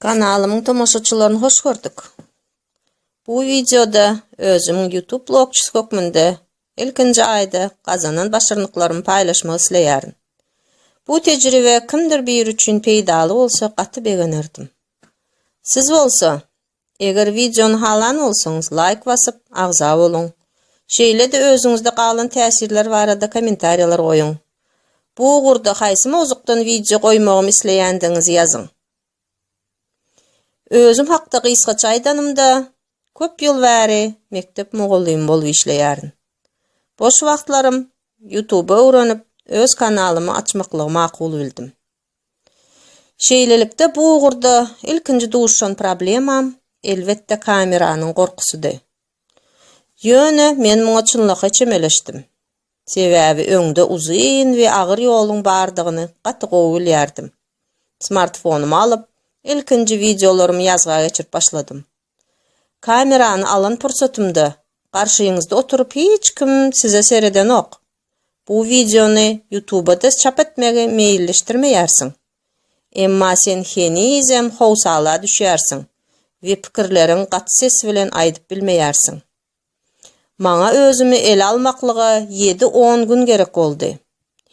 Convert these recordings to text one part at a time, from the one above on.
Kanalymyň tomaşaçylaryny hoş gördük. Bu videoda özüm YouTube blogçysy hökmünde ilkinji aýda gazanan başarnyklarymy paýlaşmak isleýärin. Bu tejribe kimdir biri üçin peýdaly bolsa gaty begenerdim. Siz bolsa Eger wideony halan bolsaňyz laýk basyp, agza boluň. Şeýle-de özüňizde galan täsirler barada kommentariýalar goýuň. Bu ugurda haýsy mowzukdan wideo goýmagym isleýändigiňizi ýazyň. Özüm hakda gysgaça aýdanymda, köp ýyl bäri mekdep mugallymy bolup işleýärin. Boş wagtlarym Youtube öwrenip, öz kanalymy açmaklygy makul bildim. Şeýlelikde bu ugurda ilkinji duşan problemam, elbetde, kameranyň gorkusydy. Ýöne men muňa çynlakaý çemeleşdim. Sebäbi öňde uzyn we agyr ýoluň bardygyny gaty gowy bilýärdim. Smartfonymy alyp, ilkinji wideolarymy ýazga geçirip başladym. Kamerany alan pursatymda garşyňyzda oturyp hiç kim size seredenok. Bu wideony Ýutubada çap etmegi meýilleşdirmeýärsiň. Emma sen henizem howsala düşýärsiň we pikirleriň gaty ses bilen aýdyp bilmeýärsiň. Maňa özümi ele almaklyga ýedi-on gün gerek boldy.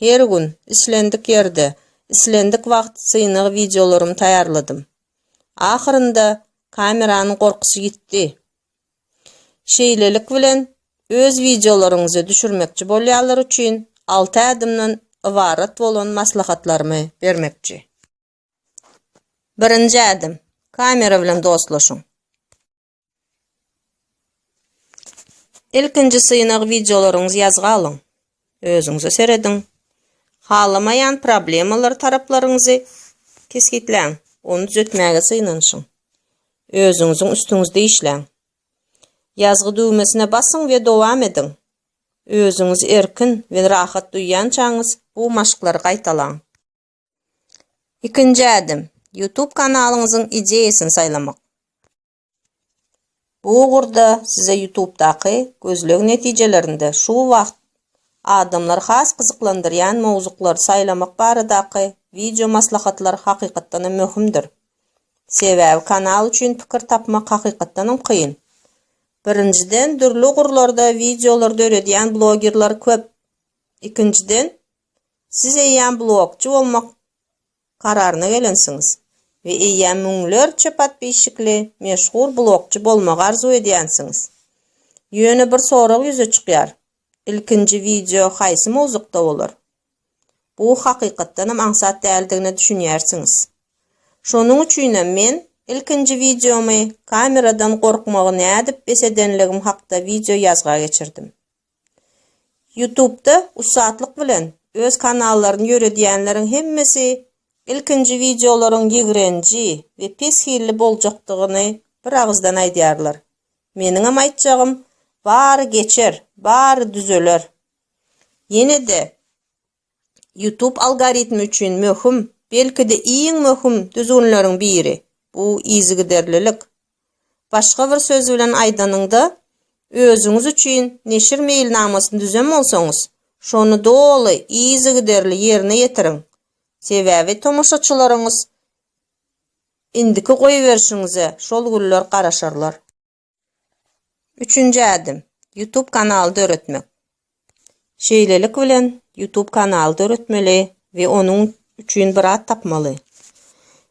Her gün, islendik ýerde, islendik wagt synag wideolarymy taýýarladym. Ahyrynda kameranyň gorkusy ýitdi. Şeýlelik bilen, öz wideolaryňyzy düşürmekçi bolýanlar üçin alty ädimden ybarat bolan maslahatlarymy bermekçi. Birinji ädim, kamera bilen dostlaşyň. Ilkinji synag wideolaryňyzy ýazga alyň. Özüňize serediň. Halamaýan problemalar taraplaryňyzy kesgitläň. Ony düzetmäge synanyşyň. Özüňiziň üstüňizde işläň. Ýazgy düwmesine basyň we dowam ediň. Özüňizi erkin we rahat duýýançaňyz bu maşklary gaýtalaň. Ikinji ädim, YouTube kanalyňyzyň ideýasyny saýlamak. Bu ugurda size YouTube-daky gözleg netijelerinde şu wagt adamlary has gyzyklandyrýan mowzuklary saýlamak baradaky wideo maslahatlar hakykatdan hem möhümdir. Sebäbi kanal üçin pikir tapmak hakykatdan hem kyn. Birinjiden, dürli ugurlarda wideolar döredýän blogerler köp. Ikinjiden, Siz eýýäm blogçy bolmak kararyna gelensiňiz we eýýäm müňlerçe podpisçikli meşhur blogçy bolmagy arzuw edýänsiňiz. Ýöne bir sorag ýüze çykýar, ilkinji wideo haýsy mowzukda bolar? Bu hakykatdanam aňsat däldigine düşünýärsiňiz. Şonuň üçinem men ilkinji wideomy kameradan gorkmagy nädip bes edenligim hakda wideo ýazga geçirdim. Ýutubda ussatlyk bilen öz kanallaryny ýöredýänleriň hemmesi ilkinji wideolaryň ýigrenji we pes hilli boljakdygyny bir agyzdan aýdýarlar. Meniňem aýtjagym, bary geçer, bary düzeler. Ýene-de YouTube algoritmi üçin möhüm, belki-de iň möhüm düzgünleriň biri, bu yzygiderlilik. Başga bir söz bilen aýdanyňda, özüňiz üçin neşir meýilnamasyny düzen bolsaňyz, şony doly yzygiderli ýerine ýetiriň, sebäbi tomaşaçylaryňyz indiki goýberişiňize şol günler garaşarlar. Üçünji ädim, YouTube kanaly döretmek. Şeýlelik bilen YouTube kanaly döretmeli we onuň üçin bir at tapmaly.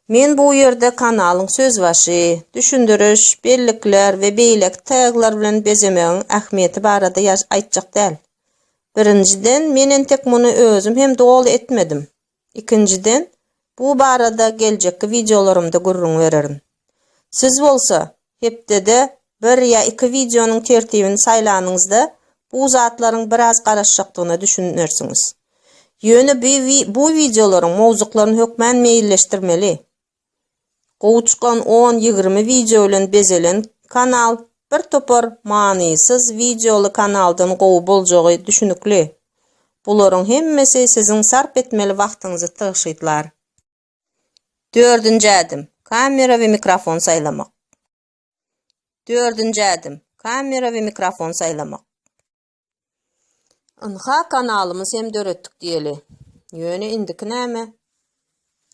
Men bu ýerde kanalyň sözbaşy, düşündiriş, bellikler we beýleki taglar bilen bezemegiň ähmiýeti barada aýtjak däl. Birinjiden, men entek muny özüm hem doly etmedim. Ikinjiden, bu barada geljekki wideolarymda gürrüň bererin. Siz bolsa, hepdede bir ýa iki wideonyň tertibini saýlanyňyzda, bu zatlaryň biraz garaşjakdygyna düşünersiňiz. Ýöne bu wideolaryň mowzuklaryny hökmän meýilleşdirmeli. Gowy çykan on ýigrimi wideo bilen bezelen kanal bir topar manysyz wideoly kanaldan gowy boljagy düşünikli. Bularyň hemmesi siziň sarp etmeli wagtyňyzy tygşytlar. Dördünji ädim, kamera we mikrofon saýlamak. Dördünji ädim, kamera we mikrofon saýlamak. Ynha kanalymyz hem döretdik diýeli. Ýöne indiki näme?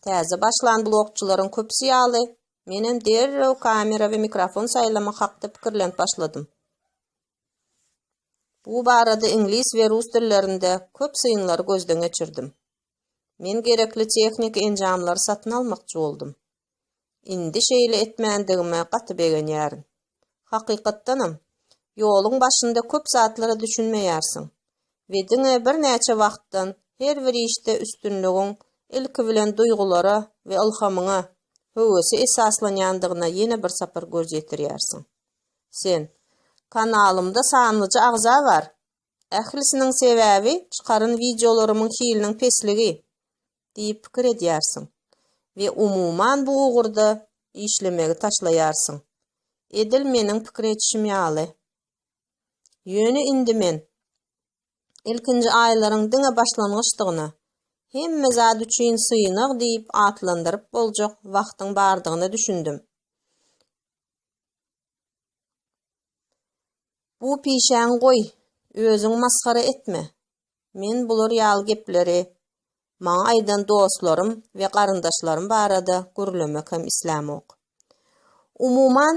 Täze başlan blogçylaryň köpüsi ýaly, menem derrew kamera we mikrofon saýlamak hakda pikirlenip başladym. Bu barada iňlis we rus dillerinde köp synlary gözden geçirdim. Men gerekli tehniki enjamlary satyn almakçy boldum. Indi şeýle etmändigime gaty begenýärin. Hakykatdanam, ýoluň başynda köp zatlara düşünmeýärsiň we diňe birnäçe wagtdan her bir işde üstünligiň ilki bilen duýgulara we ylhamyňa, höwese esaslanýandygyna ýene bir sapar göz ýetirýärsiň. Sen, Kanalymda sanlyja agza bar, Ählisiniň sebäbi çykaran wideolarymyň hiliniň pesligi diýip pikir edýärsiň we umuman bu ugurda işlemegi taşlaýarsyň. Edil meniň pikir edişim ýaly. Ýöne indi men ilkinji aýlaryň diňe başlangyçdygyna, hemme zat üçin synag diýip atlandyryp boljak wagtyň bardygyna düşündim. Bu pişäň goý, özüň masgara etme. Men bular ýaly gepleri maňa aýdan dostlarym we garyndaşlarym barada gürlemek hem islämok. Umuman,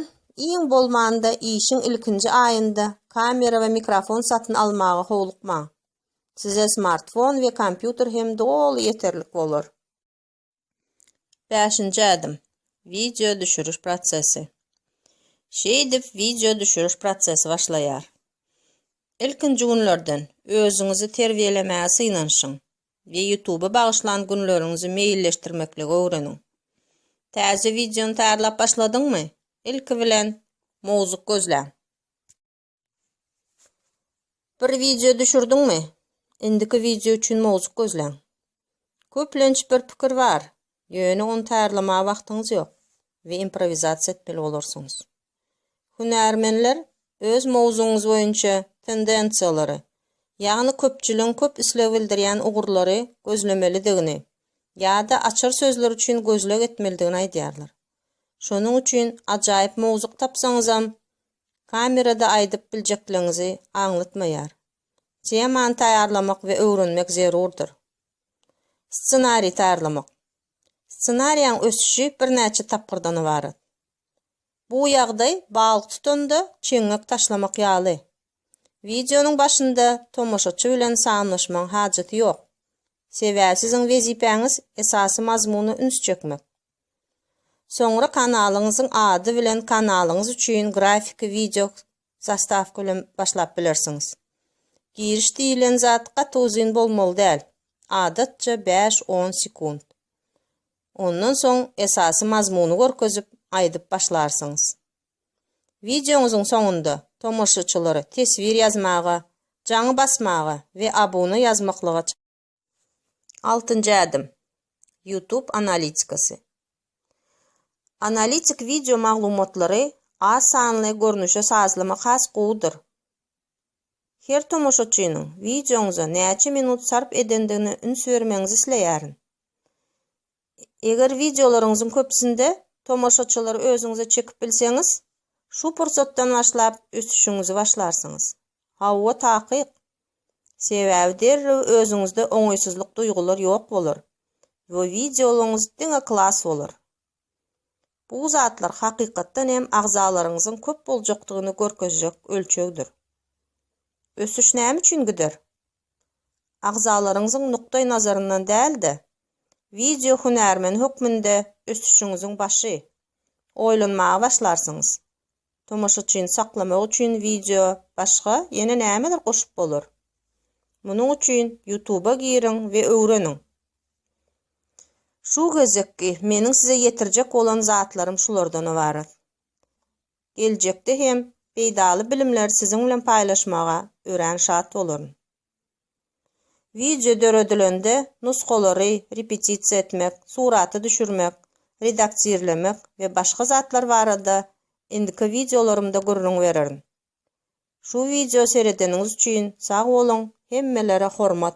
iň bolmanda işiň ilkinji aýynda kamera we mikrofon satyn almaga howlukmaň. Size smartfon we kompýuter hem doly ýeterlik bolar. Bäşinji ädim. Wideo düşüriş prosesi. Şeýdip, wideo düşüriş prosesi başlaýar. Ilkinji günlerden özüňizi terbiýelemäge synanyşyň we YouTube-a bagyşlan günleriňizi meýilleşdirmekligi öwreniň. Täze wideony taýýarlap başladyňmy? Ilki bilen, mowzuk gözläň. Bir wideo düşürdiňmi? Indiki wideo üçin mowzuk gözläň. Köplenç bir pikir bar, ýöne ony taýýarlamaga wagtyňyz ýok we improwizasiýa etmeli bolarsyňyz. Hünärmenler öz mowzugyňyz boýunça tendensiýalary, ýagny köpçüligiň köp isleg bildirýän ugurlary gözlemelidigini ýa-da açar sözler üçin gözleg etmelidigini aýdýarlar. Şonuň üçin ajaýyp mowzuk tapsaňyzam, Kamerada aýdyp biljekligiňizi aňlatmaýar. Temany taýýarlamak we öwrenmek zerurdyr. Ssenariý taýýarlamak. Ssenariýaň ösüşi birnäçe tapgyrdan ybarat. Bu ýagdaý balyk tutanda çeňňek taşlamak ýaly. Wideonyň başynda tomaşaçy bilen sanlaşmagyň hajaty ýok. Sebäbi siziň wezipäňiz esasy mazmuna üns çekmek. Soňra kanalyňyzyň ady bilen kanalyňyz üçin grafiki wideo zastawka bilen başlap bilersiňiz. Giriş diýilen zat gaty uzyn bolmaly däl, adatça bäş-on sekunt. Ondan soň esasy mazmuny görkezip, aýdyp başlarsyňyz. Wideoňyzyň soňunda tomaşyçylary teswir ýazmaga, jaňy basmaga we abuna ýazmaklyga Altynjy ädim. YouTube analitikasy. Analitik wideo maglumatlary az sanly görnüşe sazlamak has gowudyr. Her tomaşaçynyň wideoňyza näçe minut sarp edendigine üns bermegiňizi isleýärin. Eger wideolaryňyzyň köpüsinde tomaşaçylary özüňize çekip bilseňiz, şu pursatdan başlap ösüşiňizi başlarsyňyz. Hawa, takyk. Sebäbi derrew özüňizde oňaýsyzlyk duýgular ýok bolar we wideolaryňyz diňe klas bolar. Bu zatlar hakykatdan hem agzalaryňyzyň köp boljakdygyny görkezjek ölçegdir. Ösüş näme üçin gider? agzalaryňyzyň nukdaý nazaryndan däl-de, wideo hünärmeni hökmünde ösüşiňiziň başy. Oýlanmaga başlarsyňyz. Tomaşaçyny saklamak üçin wideo başga ýene nämeler goşup bolar? Munuň üçin YouTube-a giriň we öwreniň. Şu gezekki meniň size ýetirjek bolan zatlarym şulardan ybarat. Geljekde hem peýdaly bilimleri siziň bilen paýlaşmaga örän şat bolaryn. Wideo döredilende nusgalary repetisiýa etmek, suraty düşürmek, redaktirlemek we başga zatlar barada indiki wideolarymda gürrüň bererin. Şu wideo seredeniňiz üçin sag boluň, hemmelere hormat!